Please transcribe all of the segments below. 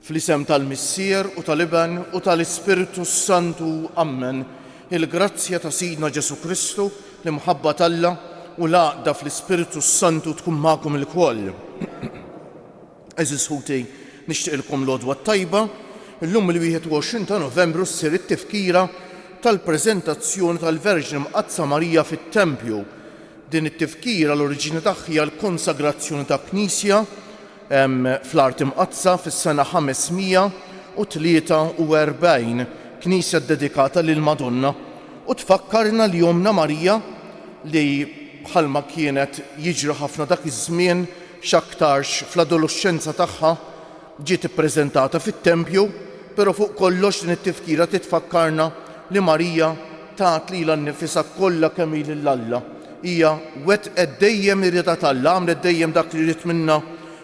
Fl-isem tal-Missier u tal-Iben u tal-Ispirtu s-Santu, ammen. Il-grazzja ta' Sidna Ġesù Kristu, l-imħabba t'Alla, u l-għaqda fl-Ispirtu s-Santu tkun magħkom ilkoll. Għeżież ħuti, nixtieqilkom l-għodwa t-tajba. Illum il-21 ta' Novembru ssir it-tifkira tal-preżentazzjoni tal-Verġni Mqaddsa Marija fit-Tempju. Din it-tifkira l-oriġini tagħha hija l-konsagrazzjoni ta' Knisja, Fl-Art Imqaddsa fis-sena 543, knisja ddedikata lill-Madonna, u tfakkarna li Ommna Marija, li bħalma kienet jiġri ħafna dak iż-żmien x'aktarx fl-adoloxxenza tagħha, ġiet ippreżentata fit-tempju, però fuq kollox din it-tifkira titfakkarna li Marija, Tat lilha nnifisha kollha kemm hi lil Alla. Hija wettqet dejjem iriedha t'Alla, għamlet dejjem dak li ried minnha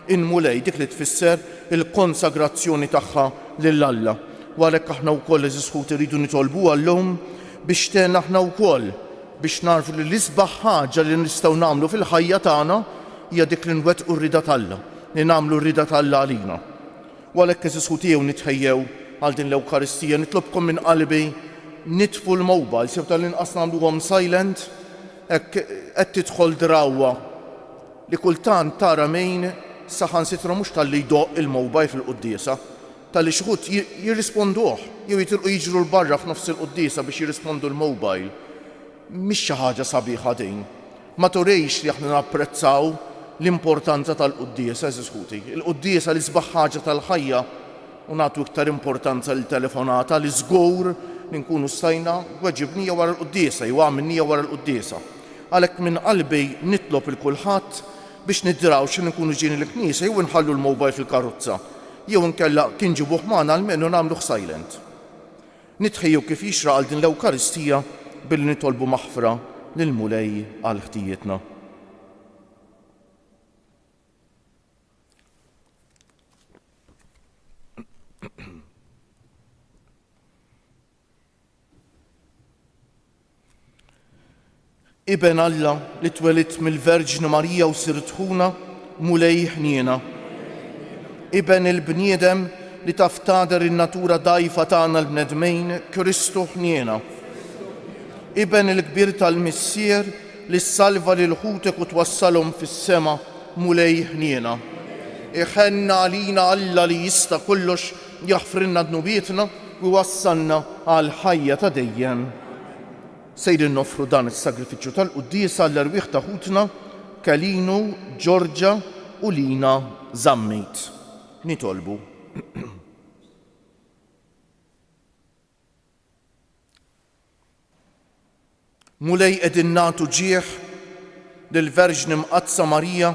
l-Mulej, dik li tfisser il-konsagrazzjoni tagħha lil Alla. U għalhekk aħna wkoll, għeżież ħuti, rridu nitolbuha llum biex tgħinna aħna wkoll biex nagħrfu li l-isbaħ ħaġa li nistgħu nagħmlu fil-ħajja tagħna hija dik li nwettqu r-rieda t'Alla, li nagħmlu r-rieda t'Alla għalina. U għalhekk, għeżież ħuti, ejjew nitħejjew għal din l-Ewkaristija. Nitlobkom minn qalbi, nitfu l-mobiles, jew tal-inqas nagħmluhom silent, hekk qed tidħol drawwa li kultant tara min saħansitra mhux talli jdoqq il-mobile fil-quddiesa, talli xi ħut jirrisponduh, jew jitilqu jiġru 'l barra f'nofs il-quddiesa biex jirrispondu l-mobile. Mhix xi ħaġa sabiħa din? Ma turix li aħna napprezzaw l-importanza tal-quddiesa, għeżież ħuti? Il-quddiesa l-isbaħ ħaġa tal-ħajja u nagħtu iktar importanza lil telefonata li żgur li nkunu stajna weġibnija wara l-quddiesa jew għamilnija wara l-quddiesa. Għalhekk minn qalbi nitlob 'il kulħadd biex niddrawx li nkunu ġejjin il-knisja jew inħallu l-mobile fil-karozza jew inkella kien ġibuh magħna almenu nagħmluh silent. Nitħejju kif jixraq għal din l-Ewkaristija billi nitolbu maħfra lill-Mulej għal ħtijietna. Iben Alla li twelidt mill-Verġni Marija u sirt ħuna, Mulej ħniena. Iben il-bniedem li taf tagħder in-natura dgħajfa tagħna l-bnedmin, Kristu ħniena. Iben il-kbir tal-Missier li ssalva lil ħutek u twassalhom fis-sema, Mulej ħniena. Iħenn għalina Alla li jista' kollox jaħfrilna dnubietna u jwassalna għall-ħajja ta' dejjem, sejrin noffru dan is-sagrifiċċju tal-quddiesa għall-erwieħ ta' ħutna Kelinu, Ġorġa u Lina Zammit. Nitolbu. Mulej qegħdin nagħtu ġieħ lill-Verġni Mqaddsa Marija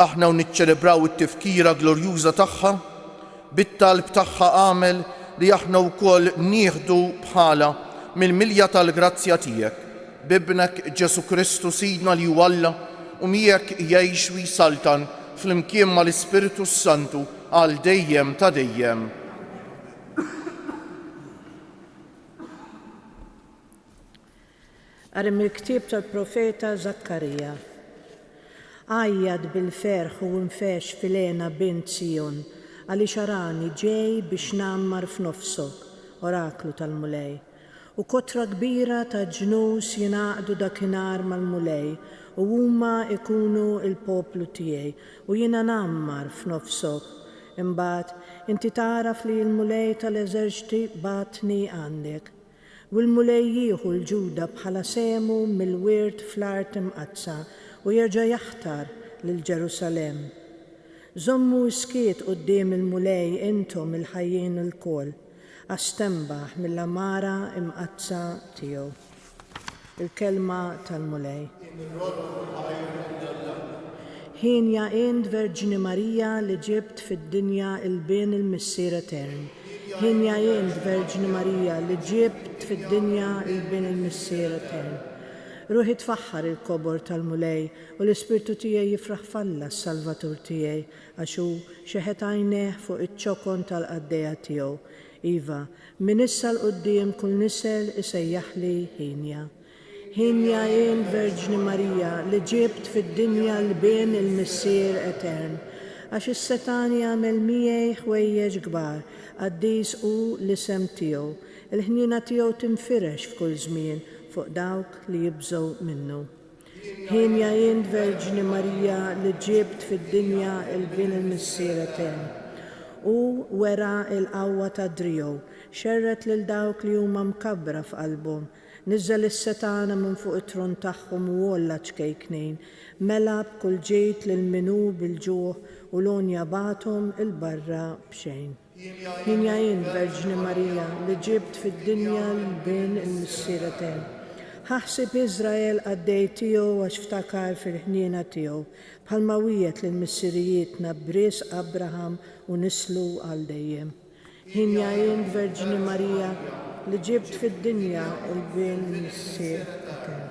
aħna u niċċelebraw it-tifkira glorjuża tagħha, bit-talb tagħha agħmel li aħna wkoll nieħdu bħalha mill-milja tal-grazzja tiegħek, b'Ibnek Ġesù Kristu Sidna li hu Alla u miegħek jgħix u jsaltan flimkien mal-Ispirtu s-Santu għal dejjem ta' dejjem. Qari mill-ktieb tal-profeta Żakkarija. Għajjat bil-ferħ u infexx fil-hena bint Sijon, għaliex arani ġej biex ngħammar f'nofsok, oraklu tal-Mulej. U kotra kbira ta' ġnus jingħaqdu dakinhar mal-Mulej, u huma jkunu l-poplu tiegħi, u jiena ngħammar f'nofshom. Imbagħad, inti tagħraf li l-Mulej ta' l-eżerċti bagħatni għandek. U l-Mulej jieħu 'l Ġuda bħala sehmu mill-wirt fl-art imqaddsa, u jerġa' jaħtar lil Ġerusalemm. Żommu s-skiet quddiem il-Mulej intom il-ħajjin lkoll. għax tenbaħ mill-għamara mqaddsa tiegħu. Il-Kelma tal-Mulej. Hienja int Verġni Marija li ġibt fid-dinja il-Bin il-Missier Etern. Hienja int Verġni Marija li ġibt fid-dinja il-Bin il-Missier Etern. Ruħi tfaħħar il-kobor tal-Mulej u l-ispirtu tiegħi jifraħ f'Alla s-Salvatur tiegħi Għax hu xeħet għajnejh fuq iċ-ċokon tal-qaddejja tiegħu, iva, minn issa 'l quddiem kull nisel isejjaħli Ħinja. Ħinja jien, Verġni Marija, li ġibt fid-dinja l-Bin il-Missier Etern. Għax is-Setan jagħmel miegħi ħwejjeġ kbar, qaddis hu l-isem tiegħu. Il-ħniena tiegħu tinfirex f'kull żmien fuq dawk li jibżgħu minnu. Hienja int Verġni Marija li ġibt fid-dinja l-Bin il-Missier Etern. Hu wera l-qawwa ta' driegħu, xerred lil dawk li huma mkabbra f'qalbhom, niżżel is-setgħana minn fuq it-tron tagħhom u għolla ċ-ċkejknin, mela b'kull ġid lil min hu bil-ġuħ u l-għonja bagħathom 'il barra b'xejn. Jien ja jien, Verġni Marija, li ġibt fid-dinja l-Bin il-Missier Etern. Ħa ħsieb Iżrael qaddej tiegħu għax ftakar fil-ħniena tiegħu, bħalma wiegħed lil missirijietna b'risq Abraham u nislu għal dejjem. Jien ja jien, Verġni Marija, li ġibt fid-dinja l-Bin il-Missier Etern.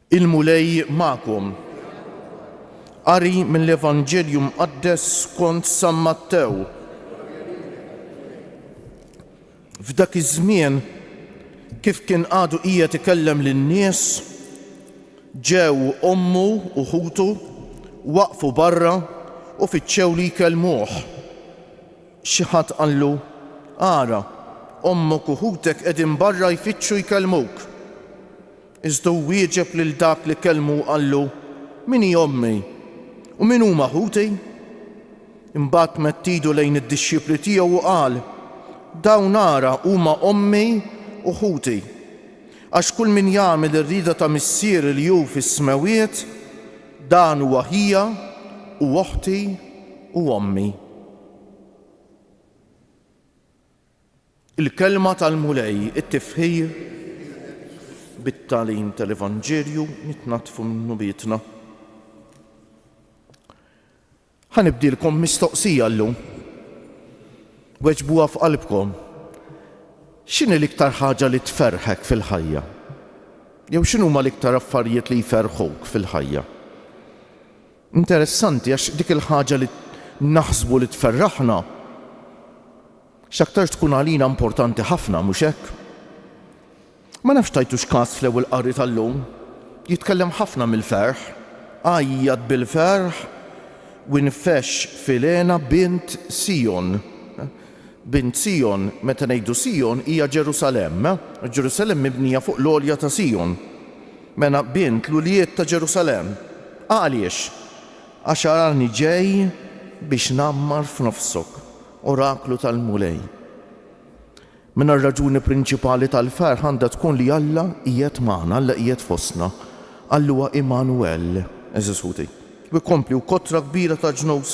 Il-Mulej magħkom. Qari mill-Evanġelju Mqaddes skont San Mattew. F'dak iż-żmien, kif kien għadu qiegħed ikellem lin-nies, ġew ommu u ħutu, waqfu barra u fittxew li jkellmuh. Xi ħadd qallu, Ara, ommok u ħutek qegħdin barra jfittxu jkellmuk. Iżda hu wieġeb lil dak li kellmu u qallu, Min hi ommi? U min huma ħuti? Imbagħad medd idu lejn id-dixxipli tiegħu u qal, Dawn ara huma ommi u ħuti. Għax kull min jagħmel ir-rieda ta' Missieri li hu fis-smewwiet, dan hu aħija u oħti u ommi. Il-Kelma tal-Mulej, it-tifħir, bit-tagħlim tal-Evanġelju nitnaddfu minn dnubietna. Ħa nibdilkom mistoqsija llum. Weġbuha f'qalbkom. X'inhi l-iktar ħaġa li tferrħek fil-ħajja? Jew x'inhuma l-iktar affarijiet li jferrħuk fil-ħajja? Interessanti għax dik il-ħaġa li naħsbu li tferraħna X'aktarx tkun għalina importanti ħafna, mhux hekk? Ma nafx tajtux kas fl-Ewwel Qari tal-lum, jitkellem ħafna mill-ferħ, Għajjat bil-ferħ u nfexx f'Ilena bint Sijon. Bint Sijon, meta ngħidu Sijon, hija Ġerusalemm. Ġerusalemm mibnija fuq l-għolja ta' Sijon. Mela bint l-ulied ta' Ġerusalemm. Għaliex? Għax arani ġej biex ngħammar f'nofsok. Oraklu tal-Mulej. Minn r-raġuni prinċipali tal-ferħ għandha tkun li Alla qiegħed magħna, Alla qiegħed fostna. Alla huwa Immanwel, għeżież ħuti. U jkompli, u kotra kbira ta' ġnus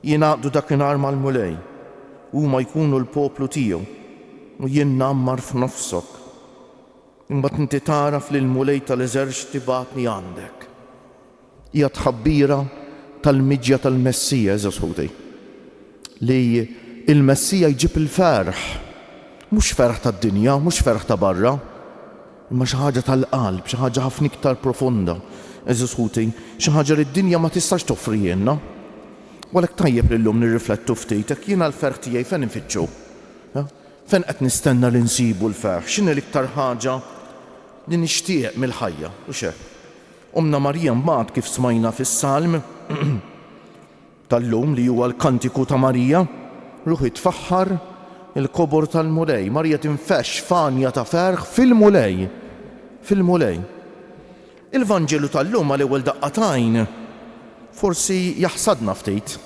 jingħaqdu dakinhar mal-Mulej, u huma jkunu l-poplu tiegħu, u jien ngħammar f'nofsok. Imbagħad inti tagħraf li l-Mulej tal-eżerċti bagħatni għandek. Hija tħabbira tal-miġja tal-Messija, għeżież Ħuti, li l-Messija jġib il-ferħ, mhux ferħ tad-dinja, mhux ferħ ta' barra, imma xi ħaġa tal-qalb, xi ħaġa ħafna iktar profonda, għeżież Ħuti, xi ħaġa li d-dinja ma tistax toffrihielna. U għalhekk tajjeb li llum nirriflettu ftit hekk, jiena l-ferħ tiegħi fejn infittxu? Fejn qed nistenna li nsibu l-ferħ? X'inhi l-iktar ħaġa li nixtieq mill-ħajja? U x'hekk. Ommna Marija mbagħad kif smajna fis-Salm tal-lum li huwa l-Kantiku ta' Marija, ruħi tfaħħar il-kobor tal-Mulej. Marija tinfexx f'għanja ta' ferħ fil-Mulej, fil-Mulej. Il-Vanġelu tal-lum għal ewwel daqqa t'għajn forsi jaħsadna ftit.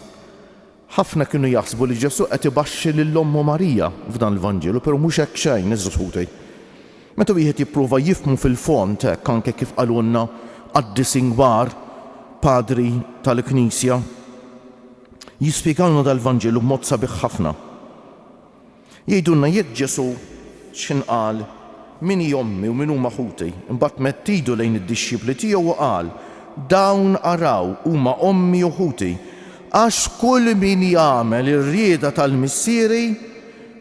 Ħafna kienu jaħsbu li Ġesù qed ibaxxi lil ommu Marija f'dan il-Vanġelu, però mhux hekk xejn, għeżież ħuti. Meta wieħed jipprova jifhmu fil-fond hekk anke kif qalulna qaddisin kbar, Padri tal-Knisja, jispjegalna dal-Vanġelu b'mod sabiħ ħafna. Jgħidulna jekk Ġesù x'ħin qal, Min hi ommi u min huma ħuti? Imbagħad medd idu lejn id-dixxipli tiegħu u qal, Dawn araw huma ommi u ħuti. Għax kull min jagħmel ir-rieda tal-Missieri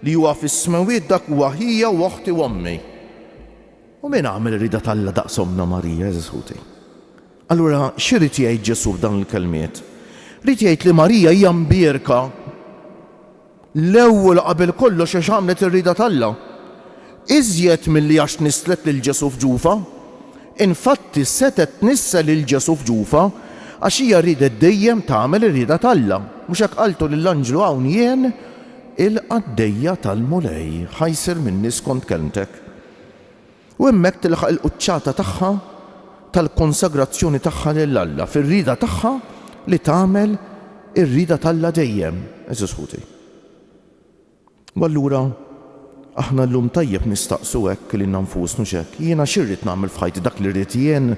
li huwa fis-smewwiet dak huwa ħija u oħti u ommi. U min għamel ir-rieda t'Alla daqs ommna Marija, għeżież ħuti? Allura xi ried jgħid Ġesù b'dawn il-kelmiet? Ried jgħid li Marija hija mbierka. L-ewwel qabel kollox għax għamlet ir-rieda t'Alla, iżjed milli għax nisslet lil Ġesù f'ġufha. Infatti, setgħet tnissel lil Ġesù f'ġufha għax hija riedet dejjem tagħmel ir-rieda t'Alla. Mhux hekk qaltlu lill-anġlu hawn jien il-qaddejja tal-Mulej, ħa jsir minni skont kelmtek. U hemmhekk tilħaq il-quċċata tagħha tal-konsagrazzjoni tagħha lil Alla fir-rieda tagħha li tagħmel ir-rieda t'Alla dejjem, għeżież ħuti. U allura aħna llum tajjeb nistaqsu hekk lilna nfusna hux hekk, jiena xi rrid nagħmel f'ħajti, dak li rrid jien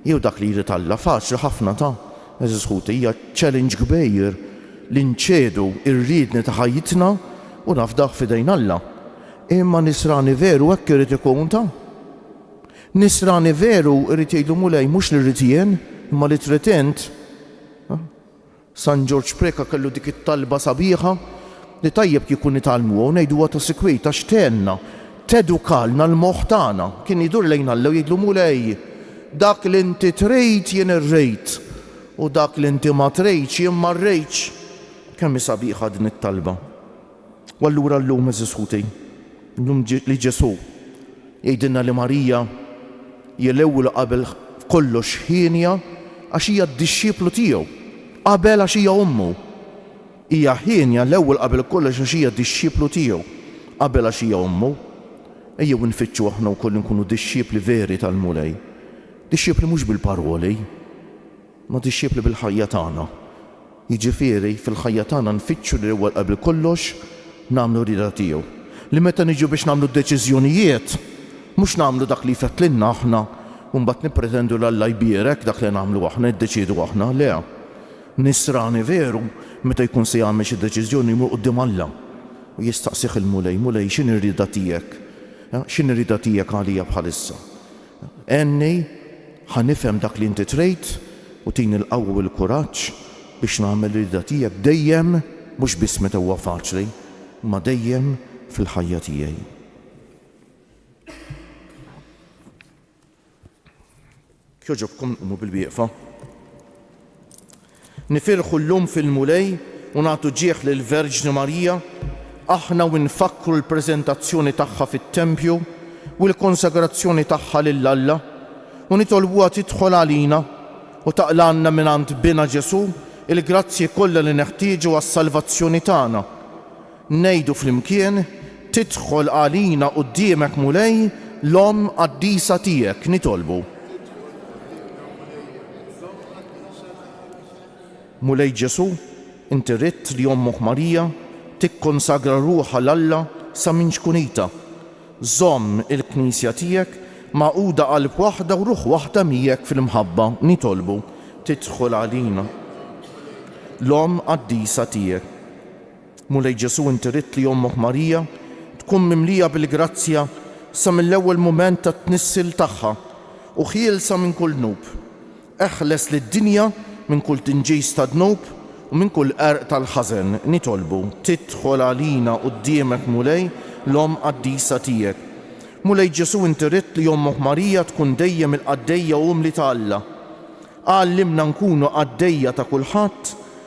jew dak li jrid Alla? Faċli ħafna ta, għeżież ħuti, hija challenge kbir li nċedu r-riedni ta' ħajjitna u nafdawh f'idejn Alla. Imma Nisrani veru hekk irid ikun, ta? Nisrani veru jrid jgħidlu Mulej mhux li rrid jien, imma li trid int. San Ġorġ Preca kellu dik it-talba sabiħa li tajjeb kieku nitgħallmuha u ngħiduha ta' sikwit għax tgħinna, tedukalna l-moħħ tagħna. Kien idur lejn Alla u jgħidlu Mulej, dak li inti trid jien irrid, u dak li inti ma tridx jien ma rridx. Kemm hi sabiħa din it-talba! U allura llum, għeżież ħuti, llum li Ġesù jgħidilna li Marija hija l-ewwel u qabel kollox hienja għax hija d-dixxieplu tiegħu, qabel għax hija ommu. Hija hienja l-ewwel qabel kollox għax hija dixxieplu tiegħu, qabel għax hija ommu. Ejjew infittxu aħna wkoll inkunu dixxiepli veri tal-Mulej. Dixxiepli mhux bil-paroli. Mod ixxierb li bil-ħajja tagħna, jiġifieri fil-ħajja tagħna nfittxu lil Ewwa l-Qabel kollox nagħmlu r-rieda tiegħu. Li meta niġu biex nagħmlu d-deċiżjonijiet, mhux nagħmlu dak li jfettlilna aħna u mbagħad nippretendu li Alla jbierek dak li nagħmlu aħna, niddeċiedu aħna. Le. Nisrani veru meta jkun se jagħmel xi deċiżjoni jmur quddiem Alla u jistaqsih il-Mulej, Mulej, x'inhi r-rieda tiegħek? X'inhi r-rieda tiegħek għalija bħalissa? Għenni, ħa nifhem dak li inti trid, u tini l-qawwa u l-kuraġġ biex nagħmel ir-rieda tiegħek dejjem, mhux biss meta huwa faċli, imma dejjem fil-ħajja tiegħi. Kjoġobkom qumu bil-wieqfa. Nifirħu llum fil-Mulej u nagħtu ġieħ lill-Verġni Marija, aħna u nfakkru l-preżentazzjoni tagħha fit-tempju u l-konsagrazzjoni tagħha lil Alla, u nitolbuha tidħol għalina u taqlagħna mingħand Binha Ġesù l-grazzji kollha li neħtieġu għas-salvazzjoni tagħna. Ngħidu flimkien, Tidħol għalina quddiemek Mulej, l-Omm qaddisa tiegħek nitolbu. Mulej Ġesù, inti ridt li ommok Marija tikkonsagra ruħha 'l Alla sa minn ċkunitha. Żomm il-Knisja tiegħek magħquda qalb waħda u ruħ waħda miegħek fil-mħabba nitolbu. Tidħol għalina l-Omm qaddisa tiegħek. Mulej Ġesù inti ridt li ommok Marija tkun mimlija bil-grazzja sa mill-ewwel mument tat-tnissil tagħha u ħielsa minn kull dnub. Eħles lid-dinja minn kull tinġis ta' dnub u minn kull qerq tal-ħażen. Nitolbu tidħol għalina quddiemek Mulej l-Omm qaddisa tiegħek. Mulej Ġesù inti ridt li ommok Marija tkun dejjem il-qaddejja umli ta' Alla. Għallimna nkunu qaddejja ta' kulħadd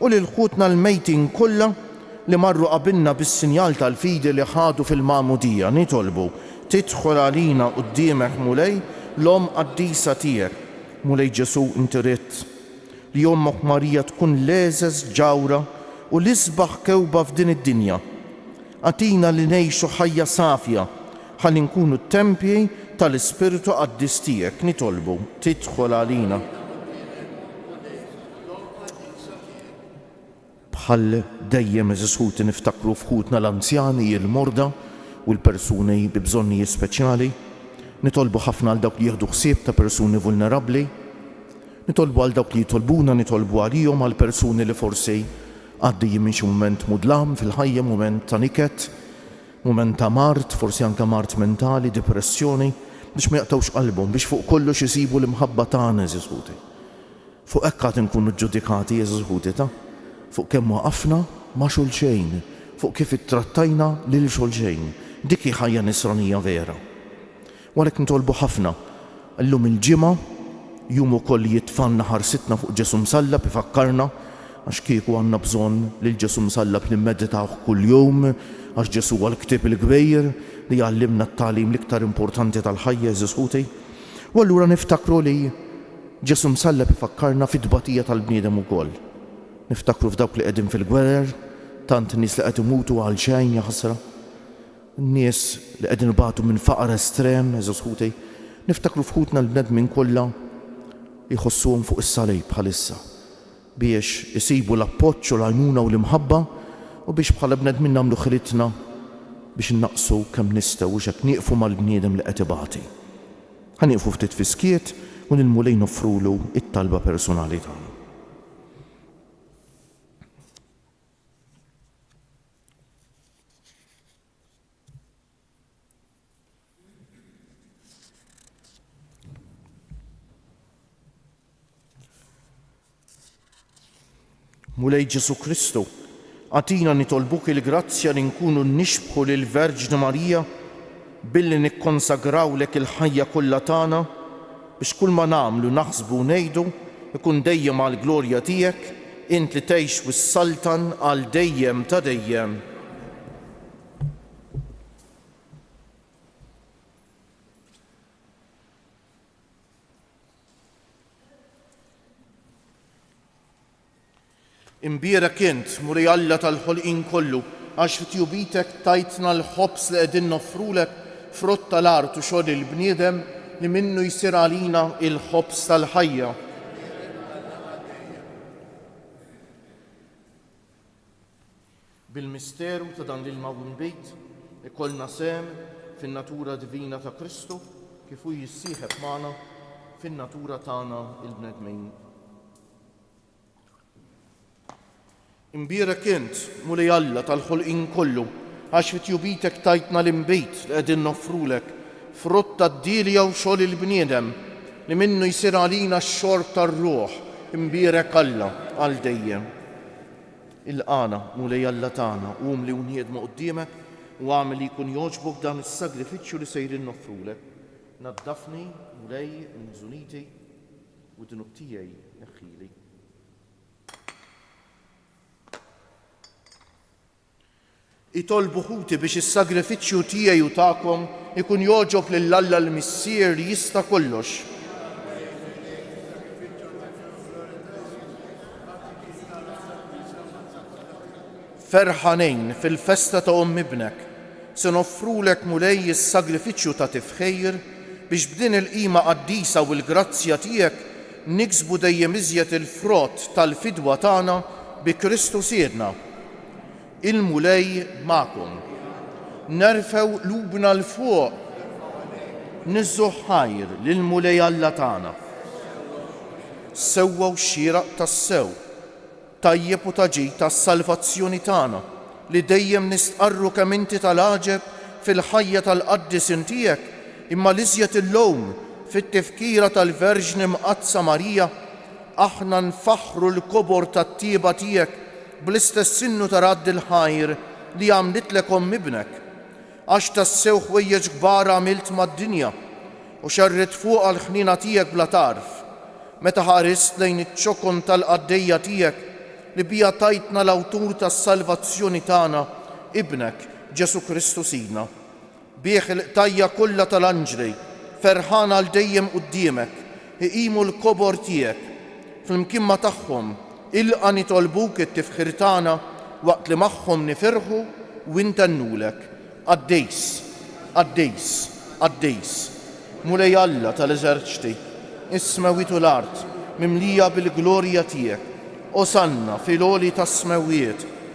u lil ħutna l-mejtin kollha li marru qabilna bis-sinjal tal-fidi li ħadu fil-Magħmudija, nitolbu, Tidħol għalina quddiemek, Mulej, l-Omm qaddisa tiegħek. Mulej Ġesù, inti ridt li ommok Marija tkun l-għeżeż ġawhra u l-isbaħ kewba f'din id-dinja. Agħtina li ngħixu ħajja safja ħalli nkunu t-tempji tal-Ispirtu qaddis tiegħek, nitolbu, Tidħol għalina. Bħal dejjem, għeżież ħuti, niftakru f'ħutna l-anzjani, il-morda u l-persuni bi bżonnijiet speċjali. Nitolbu ħafna għal dawk li jieħdu ħsieb ta' persuni vulnerabbli. Nitolbu għal dawk li jitolbuna nitolbu għalihom, għal persuni li forsi għaddejjin minn xi mument mudlam fil-ħajja, mument ta' niket, mument ta' mard, forsi anke mard mentali, dipressjoni, biex ma jaqtgħux qalbhom, biex fuq kollox isibu l-imħabba tagħna, għeżież ħuti. Fuq hekk għad inkunu ġġudikati, għeżież ħutita, fuq kemm waqafna ma' xulxejn, fuq kif ittrattajna lil xulxejn. Dik hi ħajja Nisranija vera. U għalhekk nitolbu ħafna. Illum il-Ġimgħa, jum ukoll li jitfgħalna ħarsitna fuq Ġesù Msallab, ifakkarna, għax kieku għandna bżonn lil Ġesù Msallab nimmeditawh kuljum, għax Ġesù huwa l-ktieb il-kbir li jgħallimna t-tagħlim l-iktar importanti tal-ħajja, għeżież ħuti. U allura niftakru li. Ġesù msalleb ifakkarna fit-tbatija tal-bniedem ukoll. Niftakru f'dawk li qegħdin fil-gwerer, tant nies li qed imutu għalxejn, jaħasra. Nies li qegħdin ibatu minn faqar estrem, għeżież ħuti. Niftakru f'ħutna l-bnedmin kollha li jħossuhom fuq is-salib bħalissa, biex isibu l-appoġġ u l-għajnuna u l-imħabba, u biex bħala bnedmin nagħmlu ħilitna biex innaqqsu kemm nistgħu u x'hekk nieqfu mal-bniedem li qed ibati. Ħa nieqfu ftit fis-skiet u lill-Mulej noffrulu t-talba persunali tagħna. Mulej Ġesu Kristu, għatina nitolbuk il-grazzja li nkunu nixbħu lill-Verġni Marija billi nikkonsagrawlek il-ħajja kollha tagħna biex kull ma nagħmlu, naħsbu u ngħidu jkun dejjem għall-glorja tiegħek, int li tgħix u ssaltan għal dejjem ta' dejjem. Imbierek int, Muri Alla tal-ħolqien kollu, għax fi tjubitek tajtna l-ħobż li qegħdin noffrulek, frott tal-art u xogħol il-bniedem, li minnu jsir għalina l-ħobż tal-ħajja. Bil-misteru ta' dan l-ilma u nbid, ikollna sehem fin-natura divina ta' Kristu kif hu jissieħeb magħna fin-natura tagħna l-bnedmin. Imbierek int, Mulej Alla tal-ħolqien kollu, għax fi tjubitek tajtna l-inbid li qegħdin noffrulek, frutt tad-dielja u xogħol il-bniedem, li minnu jsir għalina x-xorb tar-ruħ, imbierek Alla għal dejjem. Ilqagħna, Mulej Alla tagħna, u umli u nħiedmu quddiemek, u agħmel li jkun jogħġbok dan is-sagrifiċċju li sejrin noffrulek. Naddafni, Mulej, minn żuniti, u d-dnub tiegħi neħħili. Itolbu ħuti biex is-sagrifiċċju tiegħi u tagħkom ikun jogħġob lil Alla l-Missier li jista' kollox. Ferħanejn, fil-festa ta' omm ibnek, se noffrulek, Mulej, is-sagrifiċċju ta' tifħir, biex b'din il-qima qaddisa u l-grazzja tiegħek niksbu dejjem iżjed il-frott tal-fidwa tagħna bi Kristu Sidna. Il-Mulej magħkom. Nerfgħu qlubna 'l fuq niżżgħu ħajr lill-Mulej Alla tagħna. Sewwa u xieraq tassew, tajjeb u ta' ġid għas-salvazzjoni tagħna li dejjem nistqarru kemm inti tal-għaġeb fil-ħajja tal-qaddisin tiegħek imma l-iżjed illum fit-Tifkira tal-Verġni Mqaddsa Marija Aħna nfaħħru l-kobor tat-tjieba tiegħek bl-istess innu ta' radd il-ħajr li għamlitlek omm Ibnek. Għax tassew ħwejjeġ kbar għamilt mad-dinja, u xerridt fuqha l-ħniena tiegħek bla tarf, meta ħarist lejn iċ-ċokon tal-qaddejja tiegħek li biha tajtna l-Awtur tas-salvazzjoni tagħna, Ibnek, Ġesù Kristu Sidna. Bih il-qtajja' kollha tal-anġli, ferħana għal dejjem quddiemek, iqimu l-kobor tiegħek. Flimkien ma' tagħhom, ilqa' nitolbuk it-tifħir tagħna waqt li magħhom nifirħu u intennulek, Qaddis, qaddis, qaddis, Mulej Alla tal-eżerċti, is-smewwiet u l-art mimlija bil-glorja tiegħek, Osanna fil-għoli tas-smewwiet.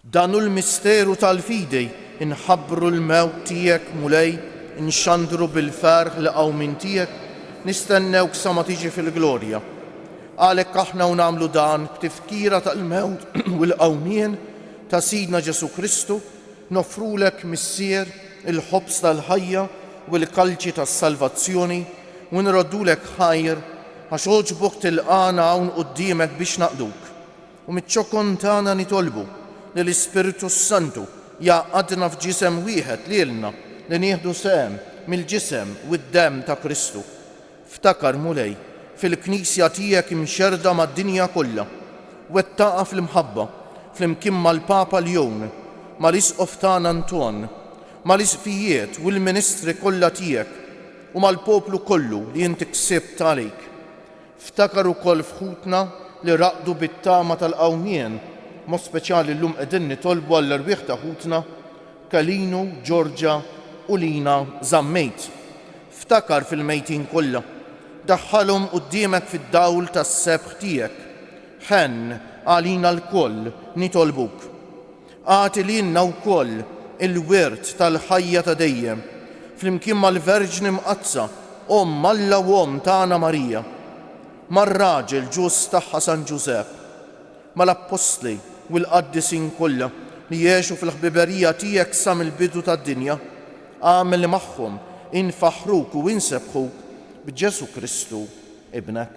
Dan hu l-misteru tal-fidi, Inħabbru l-mewt tiegħek, Mulej, inxandru bil-ferħ l-qawmien tiegħek, nistennewk sa ma tiġi fil-glorja. Għalhekk aħna u nagħmlu dan b'tifkira tal-mewt u l-qawmien ta' Sidna Ġesù Kristu, noffrulek, Missier, il-ħobż tal-ħajja u l-kalċi tas-salvazzjoni u nroddulek ħajr, għax għoġbok tilqagħna hawn quddiemek biex naqduk. u miċ-ċokon tagħna nitolbu li l-Ispirtu s-Santu jgħaqqadna f'ġisem wieħed lilna li nieħdu sehem mill-ġisem u d-demm ta' Kristu. Ftakar, Mulej, fil-Knisja tiegħek imxerrda mad-dinja kollha. Wettaqha fl-imħabba, flimkien mal-Papa Ljon, mal-Isqof tagħna Anton, mal-Isqfijiet u l-ministri kollha tiegħek, u mal-poplu kollu li inti ksibt għalik. Ftakar ukoll f'ħutna li raqdu bit-tama tal-qawmien, b'mod speċjali llum qegħdin nitolbu għall-erwieħ ta' ħutna Kalinu, Georgia u Lina Zammit. Ftakar fil-mejtin kollha. Daħħalhom quddiemek fid-dawl tas-sebħ tiegħek. Ħenn għalina lkoll, nitolbuk. Agħti lilna wkoll il-wirt tal-ħajja ta' dejjem, flimkien mal-Verġni Mqaddsa, Omm Alla u Omm tagħna Marija, mar-raġel ġust tagħha San Ġużepp, mal-Appostli u l-qaddisin kollha li għexu fil-ħbiberija tiegħek sa mill-bidu tad-dinja, agħmel li magħhom infaħħruk u insebbħuk b'Ġesù Kristu Ibnek.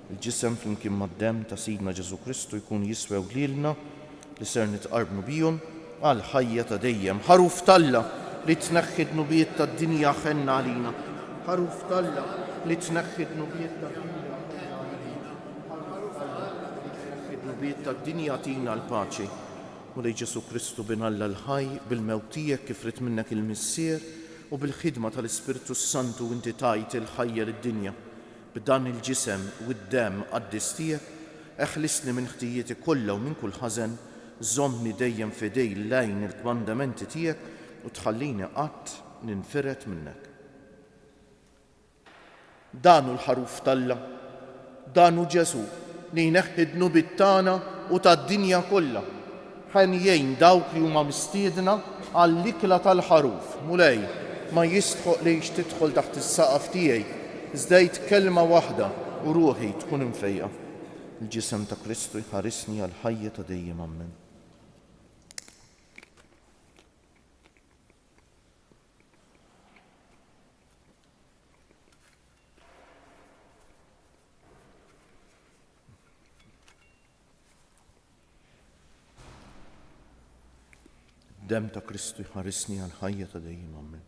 Il-ġisem flimkien mad-demm ta' Sidna Ġesù Kristu jkun jiswew lilna li ser nitqarbnu bihom għall-ħajja ta' dejjem. Ħaruf t'Alla li tneħħi d-dnubiet tad-dinja ħenna għalina. Ħaruf t'Alla li tneħħi d-dnubiet tad-dinja ħenna għalina. Ħaruf t'Alla li tneħħi d-dnubiet tad-dinja tina l-paċi. Mulej Ġesù Kristu Bin Alla l-ħaj, bil-mewt tiegħek kif ried minnek il-Missier u bil-ħidma tal-Ispirtu s-Santu inti tajt il-ħajja lid-dinja. B'dan il-ġisem u d-demm qaddis tiegħek, eħlisni minn ħtijieti kollha u minn kull ħażen, żommni dejjem f'idej l-għajn il-kmandamenti tiegħek u tħallini qatt ninfired minnek. Dan hu l-Ħaruf t'Alla. Dan hu Ġesù, li jneħħi d-dnubiet tagħna u tad-dinja kollha. Ħen jgħin dawk li huma mistiedna għall-ikla tal-Ħaruf. Mulej, ma jistħoqlix tidħol taħt is-saqaf tiegħi, iżda għid kelma waħda u ruħi tkun imfejqa. Il-Ġisem ta' Kristu jħarisni għall-ħajja ta' dejjem. Ammen. Dem ta' Kristu jħarisni għal ħajja ta' dejjem għammen.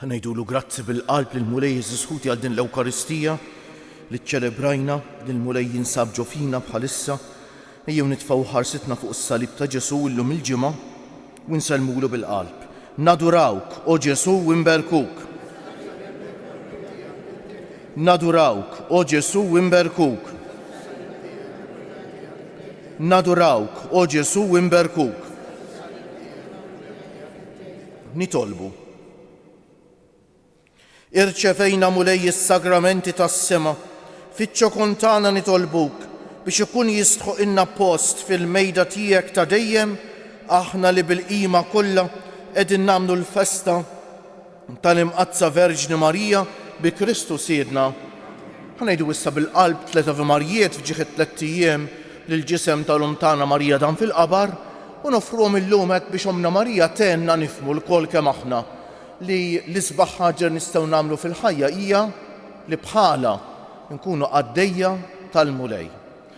Ħanejdulu grazzi bil-qalb lill-Mulej Jeżus Ħuti għal din l-Ewkaristija li ċċelebrajna, li l-Mulej jinsab ġo fina bħalissa. Ejjew nitfgħu ħarsitna fuq is-salib ta' Ġesù illum il-Ġimgħa u nsellmulu bil-qalb. Nadurawk, O Ġesù, u nberkuk. Nadurawk, O Ġesù, u nberkuk. Nadurawk, O Ġesù, u nberkuk. Nitolbu. Irċevejna, Mulej, is-sagramenti tas-sema, fiċ-ċokon tagħna nitolbuk biex ikun jistħoqilna post fil-mejda tiegħek ta' dejjem, aħna li bil-qima kollha qegħdin nagħmlu l-festa, tal-Imqaddsa Verġni Marija bi Kristu Sidna, ħa ngħidu issa bil-qalb tliet Ave Marjiet f'ġieħ it-tlett ijiem lill-Ġisem tal-Omm tagħna Marija Dan fil-Qabar u noffruhom illum hekk biex Ommna Marija tgħinna nifhmu lkoll kemm aħna li l-isbaħ ħaġa li nistgħu nagħmlu fil-ħajja hija li bħalha nkunu qaddejja tal-Mulej.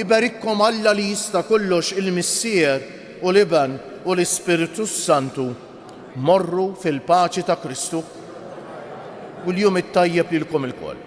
Iberikkom Alla li jista' kollox il-Missier u l-Iben u l-Ispirtu s-Santu. Morru fil-paċi ta' Kristu u l-jum it-tajjeb lilkom ilkoll.